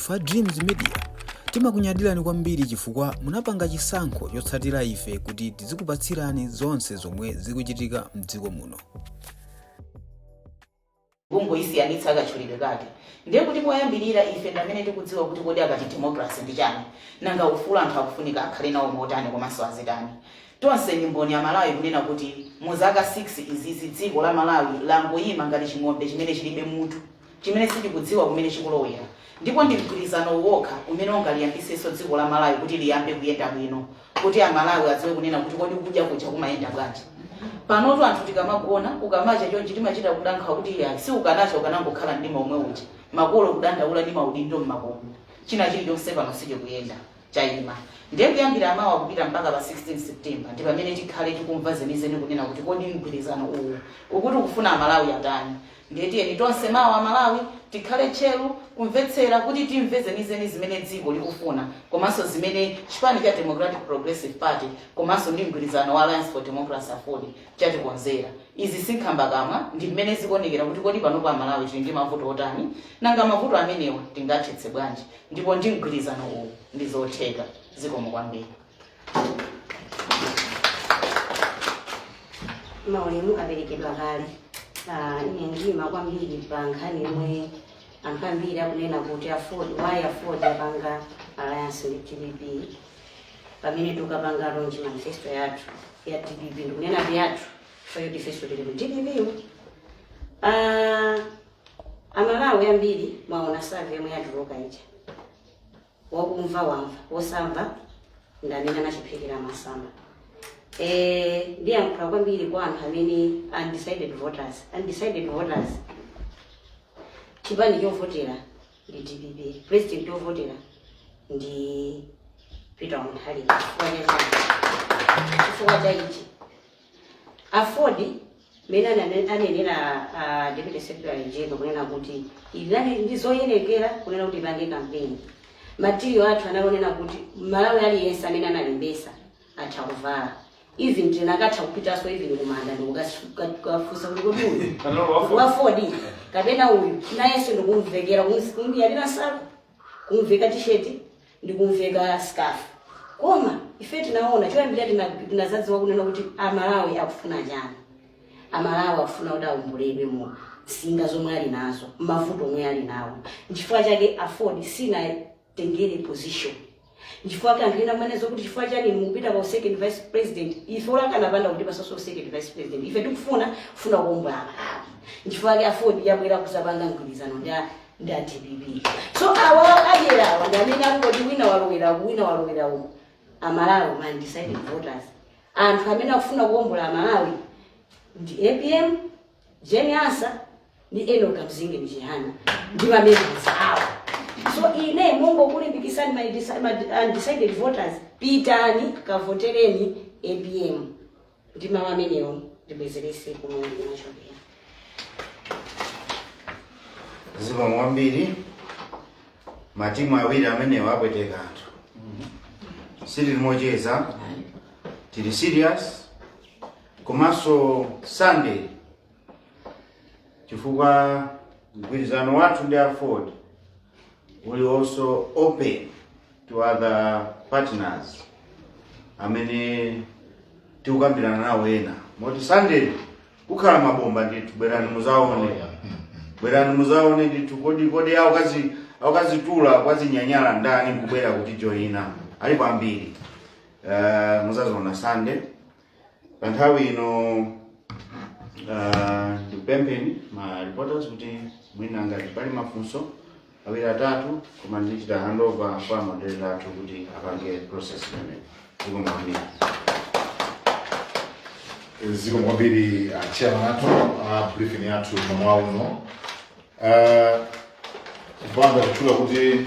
Ife a Dreams Media timakunyadilani kwambiri chifukwa munapanga chisankho chotsatira ife kuti tizikupatsirani zonse zomwe zikuchitika mdziko muno. kungosiyanitsa akatchulidwe kake ndiye kuti poyambirira ife ndi amene tikudziwa kuti kodi akati democracy ndi chani nanga ufulu anthu akufunika akhale nawo motani komanso azitani tonse ndi mboni Amalawi kunena kuti mu zaka 6 zizi dziko la malawi langoyima ngati ching'ombe chimene chilibe mutu chimene sichikudziwa kumene chikulowera ndipo ndi mgwirizanowu wokha umene ungaliyambisenso dziko la Malawi kuti liyambe kuyenda bwino kuti a Malawi adziwe kunena kuti kodi kudya kuja kumayenda bwanji. Panotu anthu tikamagona ukamacha chonchi timachita kuda nkhawa kuti iyayi usakanacha ukanangokhala mdima omwe uja makolo kudandaula ndi maudindo m'makomo china chilichonse pano sichikuyenda chayima ndiye kuyambira mawa kupita mpaka pa 16 September ndi pamene tikhale tikumva zenizeni kunena kuti kodi mgwirizano uwu ukuti ukufuna a Malawi atani Ndiye tiyeni tonse mawa Amalawi tikhale tcheru kumvetsera kuti timve zenizeni zimene dziko likufuna komanso zimene chipani cha Democratic Progressive Party komanso ndi mgwirizano wa Alliance for Democracy, aford, chatikonzera. Izi si nkhambakamwa, ndi mmene zikuonekera kuti kodi panopa Amalawi tili ndi mavuto otani, nanga mavuto amenewa tingawathetse bwanji, ndipo ndi mgwirizano uwu, ndi zotheka. Zikomo kwambiri. maulemu aperekedwa kale Ah, ine ndiima kwambiri pa nkhani yomwe anthu ambiri akunena kuti why aford yapanga alliance ndi dpp pamene tikapanga launch manifesto yathu ya dpp ndikunena ndi yathu chifukwa ifeso tili mu dpp yo Ah, amalawi ambiri mwaona survey yomwe yatuluka ija wakumva wamva wosamva ndi amene anachiphika masamba Eh, ndiyankhula kwambiri kwa anthu amene undecided voters undecided voters chipani chovotera ndi dpp president chovotera ndi peter mutharika chifukwa chani chifukwa cha ichi Aford mmene anane- anenera a deputy secretary general kunena kuti inali ndi zoyenereza kunena kuti ipange kampeni material athu tinanena kuti malawi aliyense amene analembesa atha kuvala even tikanatha kupitaso even kumanda ndikukafunsa kuti kodi uyu Kanalo wa Ford. wafodi kapena uyu nayenso ndikumuvekera material yathu kumveka tisheti ndi kumveka scarf koma ife tinaona choyambira tina- tinazadziwa kunena kuti amalawi akufuna chani amalawi akufuna kuti awomboledwe mu nsinga zomwe ali nazo mavuto omwe ali nawo nchifukwa chake aford sinatengere position nchifukwa ke anthu ena amanena zoti chifukwa chani mukupita kwa second vice president ife olo akanapanda kutipatsaso second vice president ife tikufuna kufuna kuombola amalawi nchifukwa ke aford yabwera kuzapanga mgwirizano ndi a- ndi a dpp so awa adyera awa ndi amene angoti wina walowera uku wina walowera uku amalawi ma undecided voters anthu amene akufuna kuwombola amalawi ndi apm jane ansah ndi enoch kamzingeni chihana ndi mamembers awo so ine nkungokulimbikisani ma undeci- ma undecided voters pitani kavotereni apm ndi mawu amenewo ndibwezerese kumene ndinachokera zikomo kwambiri matimu awiri amenewo apweteka anthu sitili mocheza tili serious komanso sunday chifukwa mgwirizano wathu ndi aford tili also open to other partners amene tikukambirana nawo ena moti sunday kukhala mabomba ndithu bwerani muzaone bwerani muzaone ndithu kodi kodi aukazi aukazitula kwazinyanyala ndani akubwera kutijoina alipo ambiri uh, muzaziona sunday pa nthawi ino ah, ndikupempheni ma reporters kuti mwina ngati pali mafunso awiri atatu koma ndichita handover kwa moderator athu kuti apange process imeneyi zikomo kwambiri zikomo kwambiri uh, chairman athu uh, briefing yathu mmawa uno uh, kupanda kutchula kuti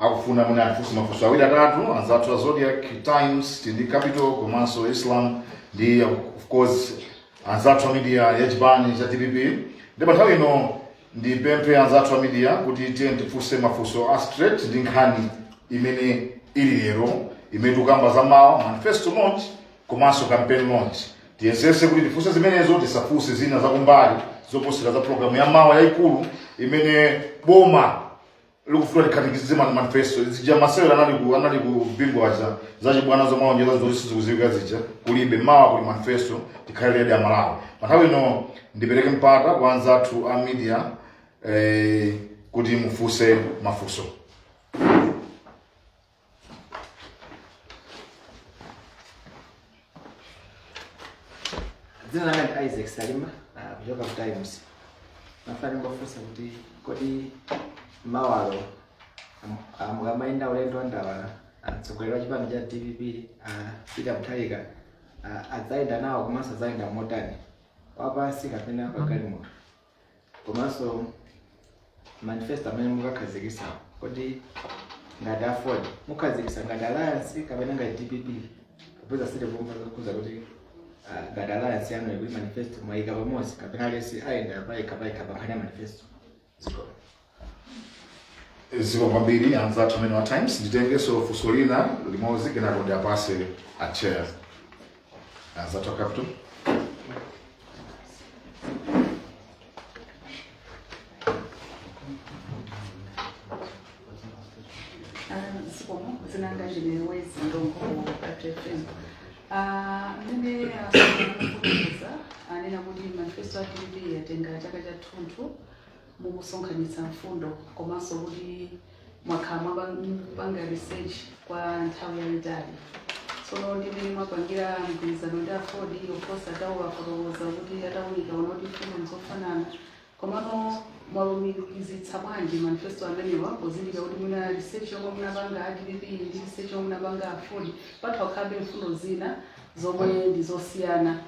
akufuna mwina atifunse mafunso awiri atatu anzathu a zodiac times tili ndi capital komanso islam ndi of course anzathu a media ya chipani cha dpp ndi pa nthawi ino ndipemphe anzathu a media kuti tiye tifunse mafunso a straight ndi nkhani imene ili lero imene tikukamba za mawa manifesto launch komanso campaign launch tiyesese kuti tifunse zimenezo tisafunse zina zakumbali zoposera za programu ya mawa yayikulu imene boma likufuna likhazikitse ma- manifesto zija masewera anali ku anali ku bingu zija zachibwana zomwe alonjeza zoti sizikudziwika zija kulibe mawa kuli manifesto tikhale ready amalawi pa nthawi ino ndipereke mpata kwa anzathu a media eh, kuti mufunse mafunso dzina langa ndi isaac salima ah, kuchoka ku times ndimafuna ndingofunsa kuti kodi mawalo am- ah, mukamayenda ulendo wandawala mtsogoleri wa chipani cha dpp ah, peter mutharika ah, adzayenda nawo komanso adzayenda motani wapansi kapena pagalimoto komanso manifesto amene mukakhazikitsa kodi ngati aford mukakhazikitsa ngati alliance kapena ngati dpp popeza sitikumva zokhudza kuti ah, ngati alliance yanu ikuti manifesto mwayika pamodzi kapena aliyense ayenda payekha payekha pankhani ya manifesto zikomo zikomo kwambiri anzathu amenewo a times nditengenso funso lina limodzi kenako ndiwapatse a chair anzathu a capital zinanga zvinewezi ndongo patrefem mene aaa anena kuti manifesto a dpp yatenga chaka chathunthu mukusonkhanitsa mfundo komanso kuti mwakhala mukupanga research kwa nthawi yayitali tsono ndi mmene mwapangira mgwirizano ndi aford poti atawofotokoza kuti atawunika aona kuti mfundo nzofanana komano mwalumikizitsa bwanji manifesto amenewa pozindikira kuti mwina research yomwe munapanga a dpp ndi research yomwe munapanga aford patha kukhalabe mfundo zina zomwe ndi zosiyana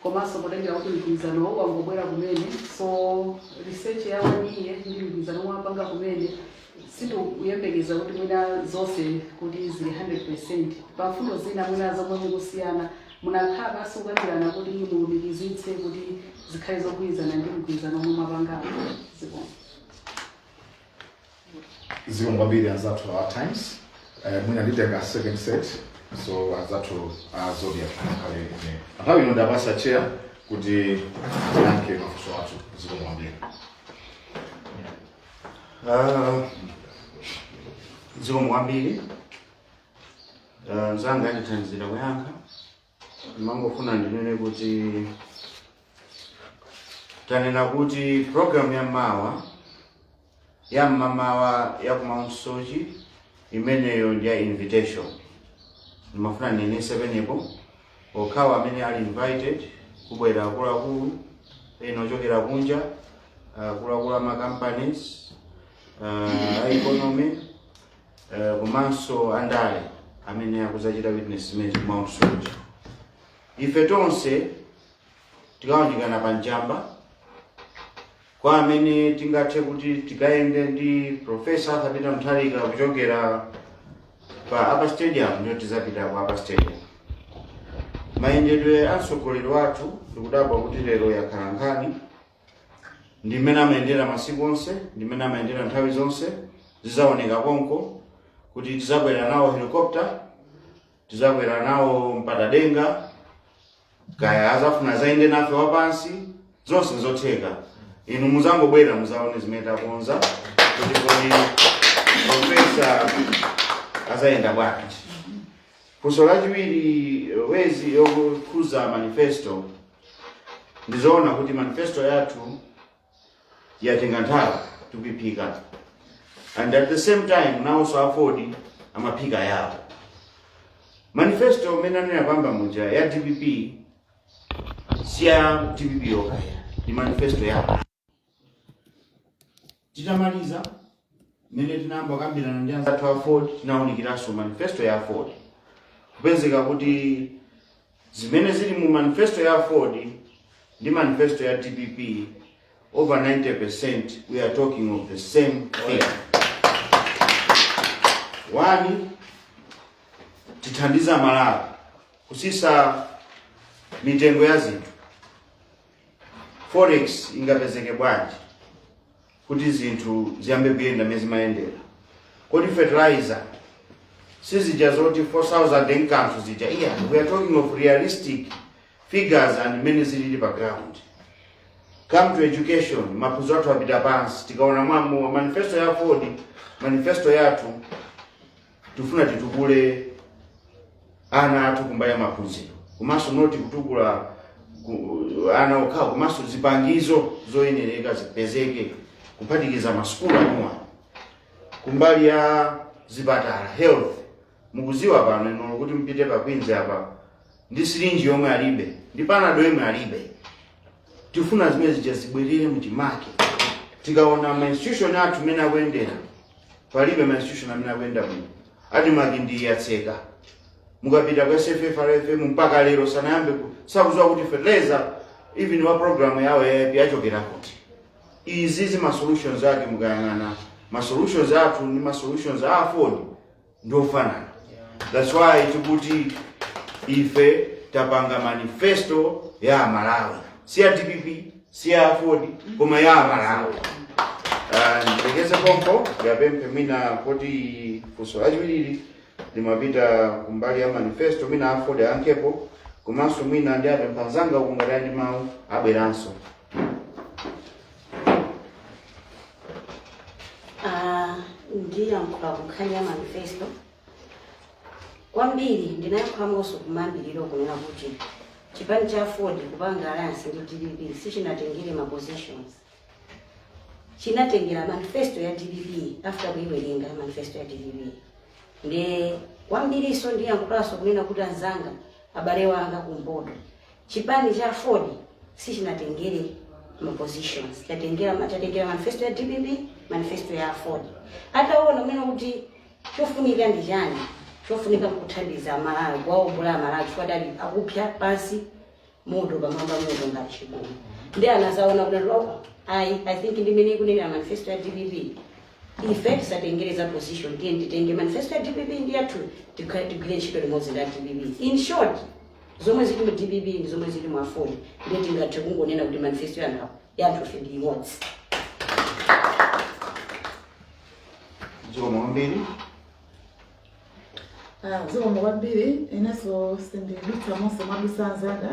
komanso potengera kuti mgwirizanowo wangobwera kumene so research ya one year ndi mgwirizano omwe mwapanga kumene sindikuyembekeza kuti mwina zonse kuti zili 100 percent pa mfundo zina mwina zomwe mukusiyana munakhala pansi kukambirana kuti mulumikizitse kuti zikhale zogwirizana ndi mgwirizano omwe mwapangawo zikomo zikomo kwambiri anzathu a times eh, mwina nditenga second set so anzathu a zodiac akhale inenso nthawi ino ndiwapatsa a chair kuti ayankhe mafunso atatu zikomo kwambiri Ah, zikomo kwambiri Ah, mzanga andithandizira kuyankha ndimangofuna ndinene kuti tanena kuti program ya mawa ya mmamawa ya ku mount soche imeneyo ndi ya invitation ndimafuna ndinenetse pamenepo okhawo amene ali invited kubwera akuluakulu ena ochokera kunja akuluakulu ama companies uh, a economy eh, komanso andale amene akudzachita witness zimenezo ku mount soche ife tonse tikaunjikana pa njamba kwa amene tingathe kuti tikayende ndi profesa akapita mthalika kuchokera pa upper stadium ndiyo tizapita ku upper stadium mayendedwe a mtsogoleri wathu ndikudabwa kuti lero yakhala nkhani ndi mmene amayendera masiku onse ndi mmene amayendera nthawi zonse zidzaoneka konko kuti tidzakwera nawo helikopta tidzakwera nawo mpatadenga kaya azafuna zayende nafe wapansi zonse nzotheka inu muzangobwera muzaone zimene takonza kuti kodi profesa azayenda bwanji funso lachiwiri wezi yokhuza manifesto ndizoona kuti manifesto yathu yatenga nthawi tikuiphika and at the same time nawonso afodi amaphika yawo manifesto imene anena pambali muja ya dpp si ya dpp yokha ndi manifesto yawo titamaliza mmene tinayamba kukambirana ndi anzathu aford tinawunikiranso manifesto ya aford kupezeka kuti zimene zili mu manifesto ya aford ndi manifesto ya dpp over 90% we are talking of the same thing one tithandize amalawi kusisa mitengo ya zinthu Forex ingapezeke bwanji kuti zinthu ziyambe kuyenda mmene zimayendera? Kodi fertilizer sizija zoti 4000 enkanthu zija? Iyayi, we are talking of realistic figures and mmene zilili pa ground. Come to education, maphunziro athu apita pansi, tikaona mwamo manifesto ya Aford, manifesto yathu tifuna titukule ana athu kumbali ya maphunziro komanso not kutukula ku- ana okhawo komanso zipangizo zoyenereka zipezeke kuphatikiza masukulu anuwa kumbali ya zipatala health mukuziwa pano ino kuti mupite pa kwinzi apa ndi sirinji yomwe alibe ndi panado yomwe alibe tifuna zimene zija zibwerere mchimake tikaona ma institution athu amene akuyendera palibe ma institution amene akuyenda bwino admarc ndiyotseka mukapita ku sffrfm mpaka lero sanayambe ku- sakuziwa kuti fertilizer even wa program yawo ya aip yachokera kuti izizi ma solutions ake mukayang'ana ma solutions athu ndi ma solutions a aford ndi ofanana that's why tikuti ife tapanga manifesto ya amalawi si ya dpp si ya aford koma ya amalawi Ah, nditekeze pompo ndiwapemphe mwina kuti funso lachiwiri limapita kumbali ya manifesto mwina aford ayankhepo komanso mwina ndiwapempha anzanga ukangatha ndi mawu abweranso Ah, ndiyankhula ku nkhani ya manifesto kwambiri ndinayankhulanso kumayambiriro kunena kuti chipani cha aford kupanga alliance ndi dpp sichinatengere ma positions chinatengera manifesto ya dpp after kuiwerenga manifesto ya dpp nde kwambiriso ndiyankhulanso kunena kuti anzanga abale anga kumpoto Chipani cha aford sichinatengere ma positions, chatengera ma- chatengera manifesto ya dpp, manifesto ya aford. Ataona mwina kuti chofunika ndi chani, chofunika nkuthandiza Malawi, kuwaombola aMalawi chifukwa adali akupsa pansi moto pamwamba moto ngati chigumu. Ndi anazaona kuti loko, ayi, I think ndi imene ikunenera manifesto ya dpp ife tisatengere za position tiyeni titenge manifesto ya dpp ndi yathu tikha- tigwire ntchito limodzi ndi a dpp in short Zomwe zili mu dpp ndi zomwe zili mu aford ndiye tingathe kungonena kuti manifesto ya anthu ya anthufe ndi imodzi. Zikomo kwambiri. Ah, zikomo kwambiri inenso sindidutsa monse mwadusa anzanga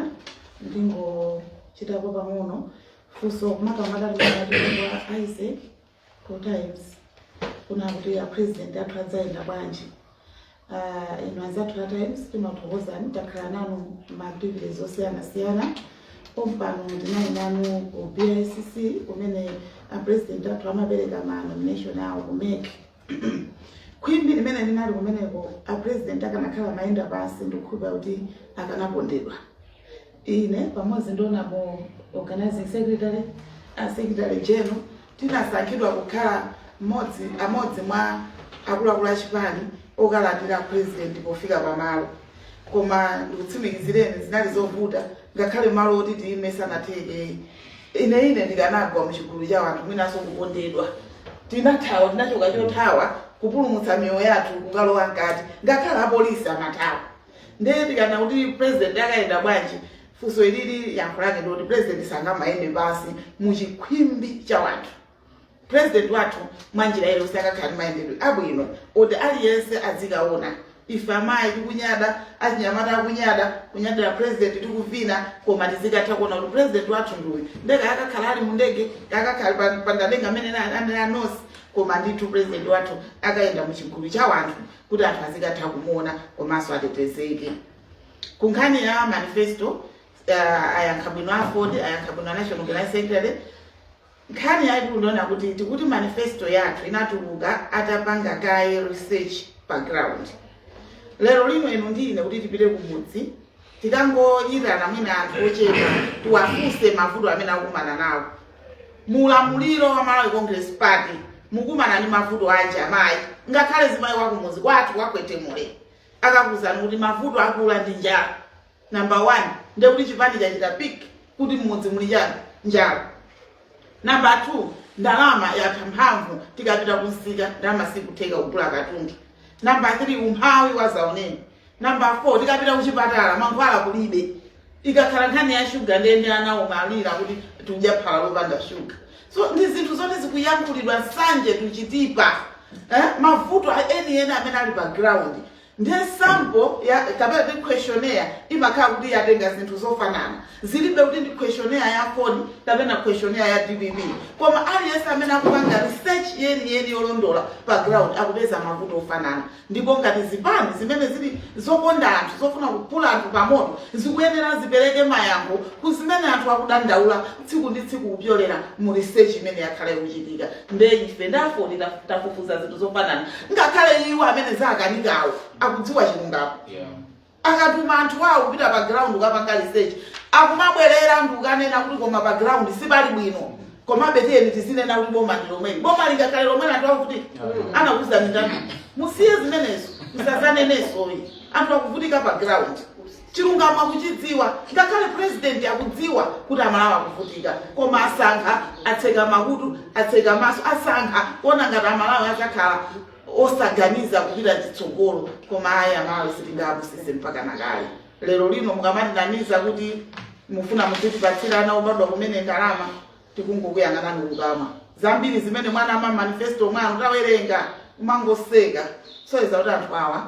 ndingochitapo pang'ono funso makamaka timati kwa a isaac two times kunena kuti a president athu adzayenda bwanji Ah, inu anzathu a times timathokozani takhala nanu ma activities osiyanasiyana pompano ndinali nanu ku bicc kumene a president athu amapereka ma nomination awo ku mec khwimbi limene linali kumeneko a president akanakhala amayenda pansi ndikukhulupira kuti akanapondedwa Ine pamodzi ndi honorable organizing secretary a secretary general tinasankhidwa kukhala mmodzi amodzi mwa akuluakulu a chipani okalandira president pofika pamalo koma ndikutsimikizireni zinali zovuta ngakhale malo oti tiyime sanatheke ine ine ndikanagwa muchigulu cha wanthu mwinanso kupondedwa tinathawa tinachoka chothawa kupulumutsa miyoyo yathu kukalowa mkati ngakhale apolisi amathawa ndiye tikanena kuti president akayenda bwanji funso ilili yankho lake ndikuti president sangamayende pansi mu chikhwimbi cha wanthu president wathu mwanjira iliyonse akakhala ndi mayendedwe abwino oti aliyense adzikaona ife amayi tikunyada achinyamata akunyada kunyadira president tikuvina koma tizikatha kuona kuti president wathu ndiuyu nde kaya akakhala ali mu ndege kaya akakhala pa- pandadenga mmene ananenera nonse koma ndithu president wathu akayenda mu chigulu cha wanthu kuti anthu azikatha kumuona komanso atetezeke ku nkhani ya manifesto uh, ayankha bwino aford ayankha bwino national organizing secretary nkhani yaikulu ndiyonena kuti tikuti manifesto yathu inatuluka atapanga kaye research pa ground lero lino inu ndi ine kuti tipite kumudzi tikangoyitana mwina anthu ochepa tiwafunse mavuto amene akukumana nawo mu ulamuliro wa malawi congress party mukumana ndi mavuto anji amayi ngakhale mzimayi wakumuzi kwathu kwakwetemule akakuuzani kuti mavuto aakulu ndi njala number one ndekuti chipani chachita pick kuti mmudzi muli chani njala namba 2 ndalama yatha mphamvu tikapita kumsika ndalama sikutheka kugula katundu namba 3 umphawi wazaoneni Number 4, tikapita kuchipatala mankhwala kulibe. Ikakhala nkhani ya shuga ndiye ndi ana umalira kuti tikudya phala lopanda shuga. So ndi zinthu zoti zikuyankhulidwa tsiku ndi tsiku. Eh? Mavuto enieni amene ali pa ground. Ndiye sample ya kapena ndi questionnaire imakhala kuti yatenga zinthu zofanana. Zilibe kuti ndi questionnaire ya AFORD kapena questionnaire ya DPP. Koma aliyense amene akupanga research yeni yeni yolondola pa ground akupeza mavuto ofanana. Ndipo ngati zipani zimene zili zokonda anthu, zofuna kuphula anthu pamoto, zikuyenera zipereke mayankho ku zimene anthu akudandaula tsiku ndi tsiku kupyolera mu research imene yakhala ikuchitika. Nde ife a AFORD tafufuza zinthu zofanana ngakhale iwo amene zawakanikawo akudziwa chilungamo. Yeah. akatuma anthu awo kupita pa ground kukapanga research akumabwerera ndi kukanena kuti koma pa ground sipali bwino komabe tiyeni tizinena kuti boma ndi lomweli boma lingakhale lomweli anthu akuvutika anakuuza ndani musiye zimenezo musazanenenso ayi anthu akuvutika pa ground chilungamo akuchidziwa ngakhale president akudziwa kuti amalawi akuvutika koma asankha atseka makutu atseka maso asankha kuona ngati amalawi adzakhala osaganiza kupita chitsogolo koma ayi amalawi sitingapusise mpaka kale lero lino mukamatinamiza kuti mufuna muzitipatsira ana obadwa kumene ndalama tikungokuyang'anani koma zambiri zimene mwanama mma manifesto mwanu tawerenga umangoseka zoti kuti anthu awa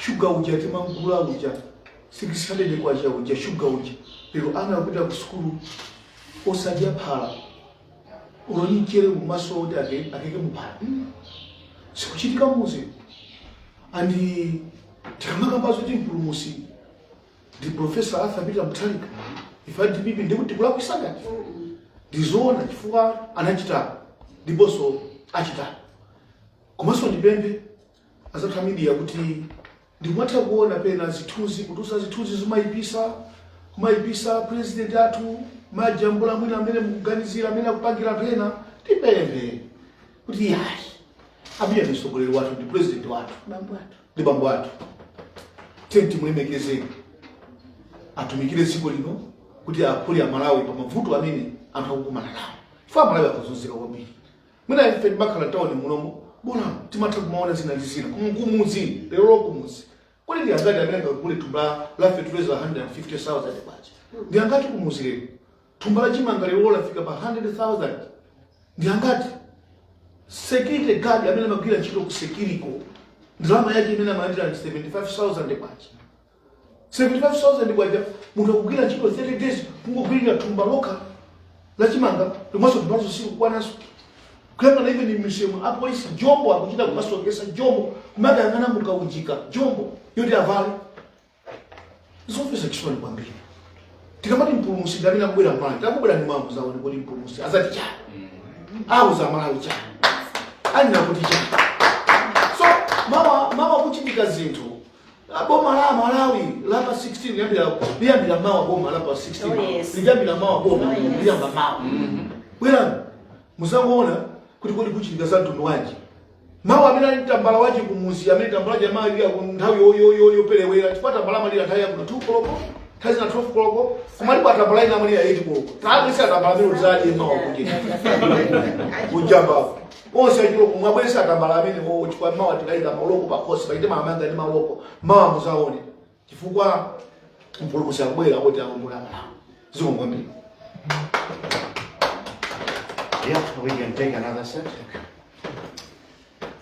shuga uja timamgula uja 600 kwacha uja shuga uja lero ana akupita ku sukulu osadya phala uloni mchere umaso kuti ake- akeke muphala Mm. sikuchitika muzi andi tikamakamba zoti mpulumusi ndi profesa arthur peter mutharika ife adpp ndikuti kulakwitsa ngati ndizoona chifukwa anachita ndiponso achita komanso ndipemphe azathu amidia kuti ndikumatha kuona pena zithunzi kutusa zithunzi zimayipisa kumayipisa president athu mmajambula mwina amene mukuganizira amene akupangira pena tipemphe kuti yayi apita ndi mtsogoleri wathu ndi president wathu bambo athu ndi bambo athu tenti mulemekezeni atumikire dziko lino kuti aphule amalawi pa mavuto amene anthu akukumana nawo chifukwa amalawi akuzunzika kwambiri mwina ife timakhala mtawuni munomo pena timatha kumaona zina ndi zina Kumu- kumudzi lerolo kumudzi kodi ndi angati amene angagule thumba la- la fetuliza 150000 kwacha ndi angati kumudzi lero thumba la chimanga lero lafika pa 100000 ndi angati security guard amene amagwira ntchito ku security ndalama yake imene amalandira ndi 75000 kwacha 75,000 kwacha munthu akugwira ntchito 30 days kungogwirira thumba lokha la chimanga lomwenso thumbalazo sikukwananso kuyang'ana ive ni misemo apolisi jombo akuchita kumasokesa jombo kumadayang'ana mukaunjika jombo yoti avale zomvesa chisoni kwambiri tikamati mpulumusi ndamene akubwera mmalawi akubwera ndi mwambo muzaone kuti mpulumusi azati chani auza amalawi chani anena kuti chani so mawa mawa kuchitika zinthu Ah, boma la malawi la pa 16 liyambira liyambira mawa boma la pa 16 Oh, yes. liyambira mawa boma Oh, yes. liyamba mawa bwerani muzangoona kuti kodi kuchitika za mtundu wanji mawa amene ali tambala wachi kumuzi amene tambala wachi amalira nthawi yo- yo- yo- yoperewera chifukwa tambala amalira nthawi ya kuma 2 koloko nthawi zina 12 koloko kumalipo atambala ina amalira 8 koloko tawapeza atambala amene uzaje mawa kuchita kujambako onse achiloko mwabwesa atambala amene owo chifukwa mawa tikayika mauloko pakhosi pachite maamanga ndi mauloko mawa muzaone chifukwa mpulumusi akubwera kuti awombole amalawi zikomo kwambiri Yeah, we can take another set.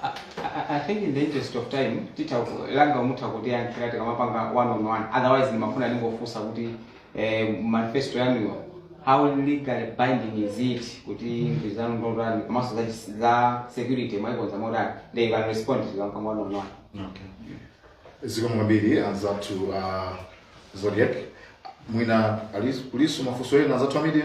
I, I- I think in the interest of time tita langa mutha kutiyankhira tikamapanga one on one otherwise ndimafuna ndingofunsa kuti eh, manifesto yanuyo how legally binding is it kuti mfundo zanu ndotani komanso za chis- za security mwaikonza motani nde you can respond to them pang'ono pang'ono zikomo kwambiri anzathu uh, zodiac mwina ali- kulinso mafunso ena anzathu a media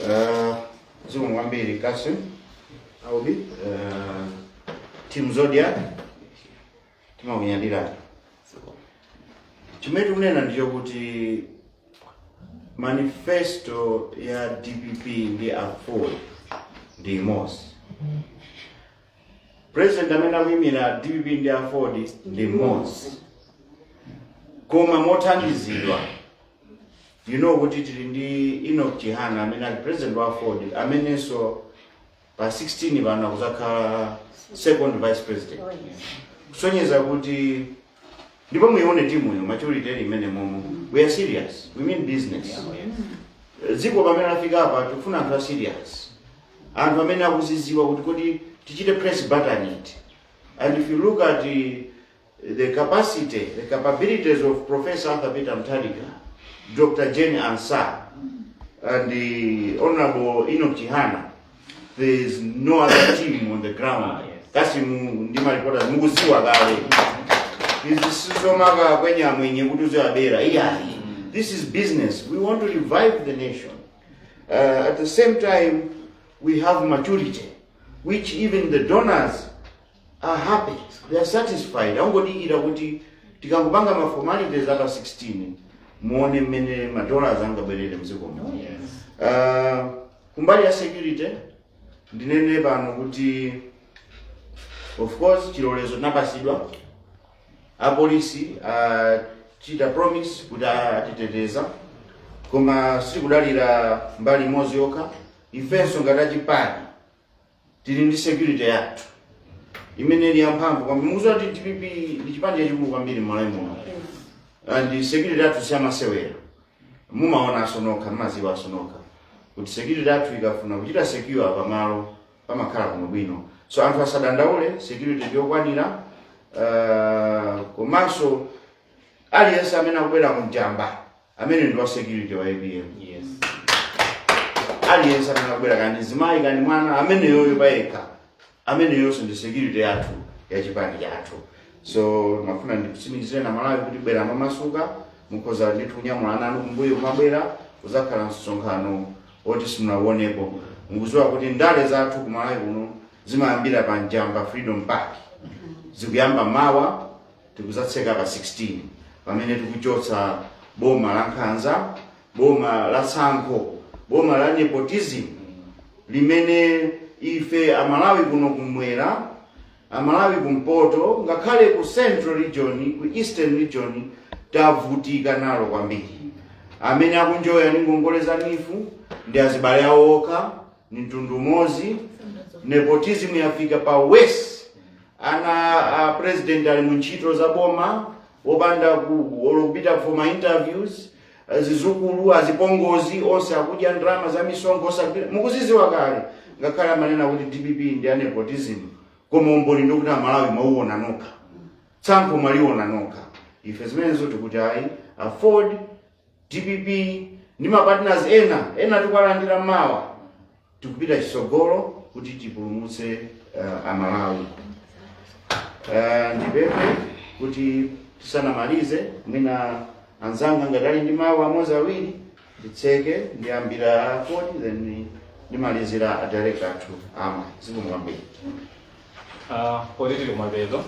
Uh, zikomo kwambiri Kasim Aubi uh, Team Zodiac timakunyadirani chimene tikunena ndicho kuti manifesto ya dpp ndi aford ndi imodzi president amene akuyimira dpp ndi aford ndi mmodzi koma mothandizidwa you know kuti tili ndi Enoch Chihana amene ali president wa aford amenenso pa 16 pano akuzakhala second vice president kusonyeza kuti ndipo muione timuyo maturity ili mmenemo we are serious we mean business dziko pamene lafika apa tikufuna anthu a serious anthu amene akuziziwa kuti kodi tichite press button iti and if you look at the, the capacity, the capabilities of Professor Arthur Peter Mutharika, Dr. Jane Ansah, and the Honorable Enoch Chihana, there is no other team on the ground. Kasi mu- ndi maripota mukuziwa kale. Izi sizomaka kwenye amwenye kuti uziwabera. Iyayi. This is business. We want to revive the nation. Uh, at the same time, we have maturity, which even the donors are happy they are satisfied angodikira kuti tikangopanga ma formalities a pa 16 muone mmene ma dollars angabwerere mdziko muno uh, kumbali ya security ndinene pano kuti of course chilolezo tinapasidwa apolisi atichita promise kuti atiteteza koma sitikudalira mbali imodzi yokha ifenso ngati achipani tili ndi security yathu imene ili yamphamvu kwambiri mukuziwa kuti dpp ndi chipani chachikulu kwambiri mmalawi muno and security yathu siyamasewera mumaonanso nokha mmaziwanso nokha kuti security yathu ikafuna kuchita secure pamalo pamakhala kuno bwino so anthu asadandaule security ndiyokwanira uh, komanso aliyense amene akubwera ku njamba amene ndi wa security wa apm Yes. aliyense amene akubwera kani mzimayi kani mwana ameneyoyo payekha ameneyonso ndi security yathu ya chipani chathu so ndimafuna ndikutsimikizireni amalawi kuti bwerani momasuka mukhoza ndithu kunyamula ana anu kumbuyo kumabwera kuzakhala msonkhano woti simunauwonepo mukuziwa kuti ndale zathu kumalawi kuno zimayambira pa njamba freedom park zikuyamba mawa tikuzatseka pa 16 pamene tikuchotsa boma la nkhanza boma la tsankho boma la nepotism limene ife amalawi kuno kumwera amalawi kumpoto ngakhale ku central region ku eastern region tavutika nalo kwambiri amene akunjoya ndi ngongole za neef ndi azibale awo okha ni mtundu umodzi nepotism yafika pa worst ana a president ali mu ntchito za boma wopanda ku- olo kupita ku ma interviews zizukulu azipongozi onse akudya ndalama za misonkho osagwira mukuziziwa kale ngakhale amanena kuti dpp ndi ya nepotism koma umboni ndikuti amalawi mwauona nokha tsankho mwaliona nokha ife zimenezo tikuti ayi aford dpp ndi mapartners ena ena tikuwalandira mawa tikupita chisogolo kuti tipulumutse uh, amalawi uh, ndipemphe kuti tisanamalize mwina anzanga ngati ali ndi mawu amodzi awiri nditseke ndiyambira akodi then ndimalizira a director athu ama zikomo kwambiri Ah, poti tili kumapeto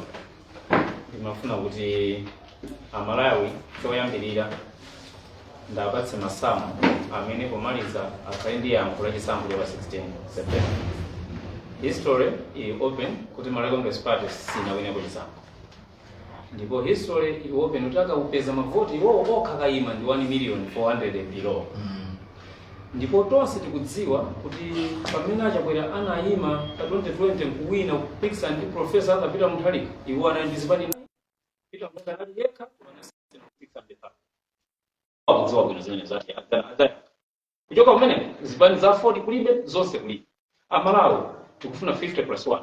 ndimafuna kuti amalawi choyambirira ndiwapatse masamu amene pomaliza akhale ndi yankho la chisankho cha pa 16 september history ili open kuti malawi congress party sinawineko chisankho ndipo history ili open kuti akapeza mavoti iwowo okha kayima ndi 1 million 400 and below ndipo tonse tikudziwa kuti pamene a chakwera anayima pa 2020 nkuwina kupikisa ndi profesa peter mutharika iwo anali ndi zipani Peter Mutharika anali yekha koma anasiyana kupikisa ndi pano. akudziwa bwino zimene zati adzana- adzana. kuchoka kumene zipani za 40 kulibe zonse kulibe amalawi tikufuna 50 plus 1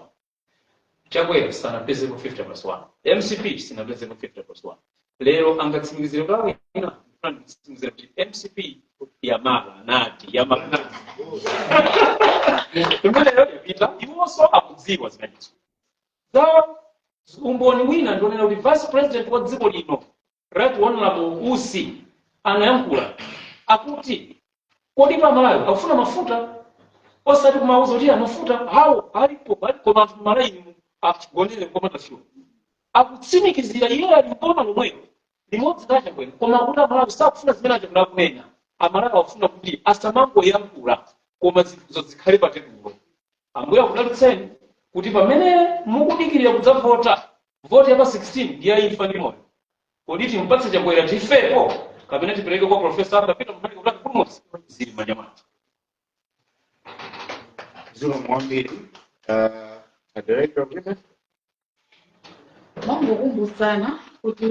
Chakwera sanapezepo 50 plus 1. MCP sinapezepo 50 plus 1. Lero angotsimikizira kwa wina kufuna kutsimikizira kuti MCP ya Malawi MCP ya Malawi MCP. Imeneyo yapita iwonso akudziwa zimenezo. Za umboni wina ndionera kuti vice president wa dziko lino Right Honorable Usi anayankhula akuti kodi pano Amalawi akufuna mafuta osati kumawauza kuti mafuta awo alipo alipo anthu malaini akugonera komwe nafenso akutsimikizira iye ali mboma lomwelo limodzi la Chakwera koma akuti amalawi sakufuna zimene achakwera akunena amalawi akufuna kuti asamangoyankhula koma zinthuzo zikhale pa tebulo Ambuye akudalitseni kuti pamene mukudikilira kudzavota, voti ya pa 16 ndi ya imfa ndi moyo. Kodi timupatse Chakwera tifepo kapena tipereke kwa Prof. Arthur Peter Mutharika kuti atipulumutse? Zili m'manja mwathu. Zikomo kwambiri. Uh, a director of women. mongokumbutsana kuti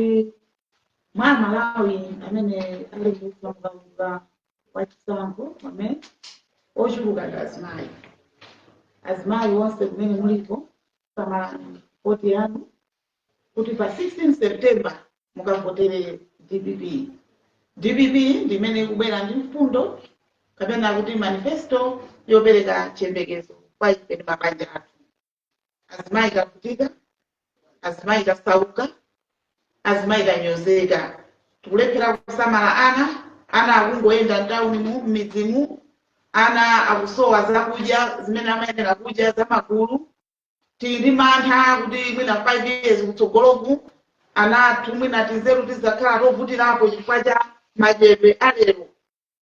mwa amalawi amene ali mu kaundula wa chisankho amene ochuluka ndi azimayi azimayi onse kumene muliko samalani voti yanu kuti pa 16 september mukavotere dpp dpp ndi imene ikubwera ndi mfundo kapena kuti manifesto yopereka chiyembekezo kwa ife ndi mabanja athu azimayi tavutika azimayi tasauka azimayi tanyozeka tikulephera kusamala ana ana akungoyenda mtawuni mu m'midzimu ana akusowa zakudya zimene amayenera kudya zamagulu tili ndi mantha kuti mwina 5 years kutsogoloku ana athu mwina tizeru tizakhala tovutirapo chifukwa cha madyedwe alero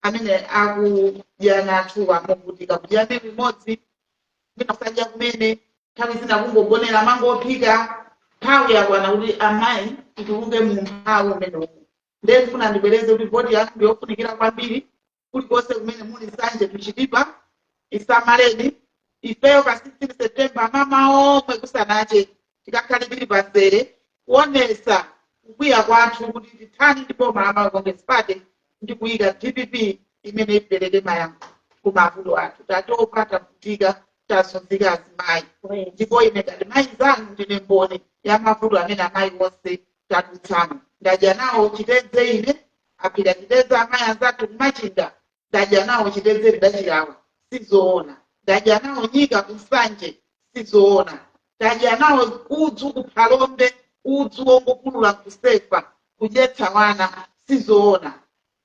amene akudya ana athuwa movutika kudyanso kamodzi mwina osadya kumene nthawi zina kungogonera mango ophika nthawi yakwana kuti amayi tituluke mu umphawi umenewu umu ndiye ndifuna ndibwereze kuti voti yathu ndiyofunikira kwambiri kulikonse kumene muli nsanje to chitipa isamaleni ifeyo pa 16 september mmamawa omwe kusanache tikakhale tili pamzere kuonesa kukwiya kwathu kuti tithani ndi boma la Malawi Congress Party ndi kuyika dpp imene ipereke mayankho ku mavuto athu tatopa tavutika tazunzika azimayi ndipo ine ngati mayi mzanu ndine mboni ya mavuto amene amayi onse tadutsamo ndadya nawo chitedze ine aphika chitedze amayi anzathu kumachinga ndadya nawo chitedze tidachilawa sizoona ndadya nawo nyika kunsanje sizoona ndadya nawo udzu kuphalombe udzu wongopululapo kusefa kudyetsa wana sizoona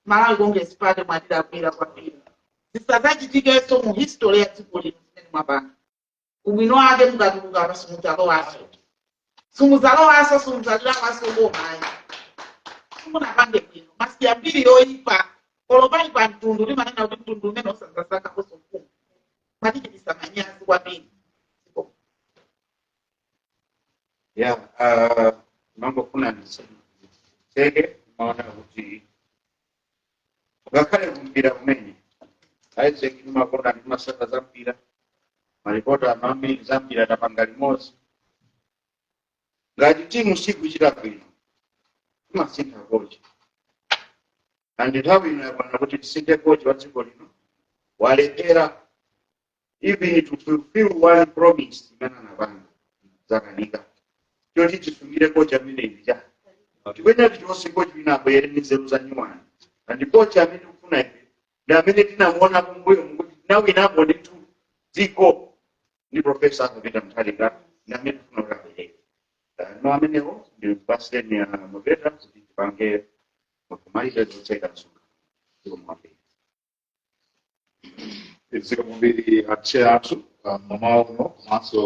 malawi congress party mwatilakwira kwambiri zisadzachitikenso mu history ya dziko lino zimene mwapanga ubwino wake mukatuluka apa simudzalowanso simudzalowanso simudzalowanso bomayi simunapange bwino mwasiya mbiri yoyipa olo pa mtundu limanena kuti mtundu umene usadzasankhenso ufumu mwatichititsa manyazi kwambiri ya ah, mangofuna ndiseke maona kuti ngakhale kumpira kumene isaac timakonda ndi amatsata za mpira malipoti ambiri za mpira tapanga limodzi ngati timu sikuchita bwino timasintha kochi ndi nthawi ino yakwana kuti tisinthe kochi wa dziko lino walephera even to fulfill one promise imene anapanga zakanika kochi timusungire kocha amene ija kuti kwenikweni chilichonse kochi amene abwere ndi nzeru za nyuwani and kochi amene tikufuna ife ndi amene tinamuona kumbuyo kuti tinawinapo ndithu dziko ndi profesa Arthur Peter Mutharika ndi amene tikufuna kuti abwere Eh, no amenewo ndi pasiteni ya maveta kuti tipange makumaliza kutseka msonkhano Zikomo kwambiri a chair athu ah, mmawa uno komanso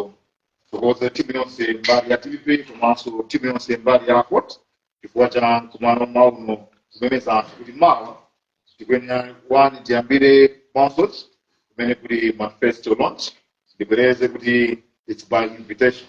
pothokoza timu yonse mbali ya tv komanso timu yonse mbali ya court chifukwa cha mkumano mmawa uno tikumemeza anthu kuti mawa tikuyenera kuti tiyambire concert kumene kuli manifesto launch ndibwereze kuti its by invitation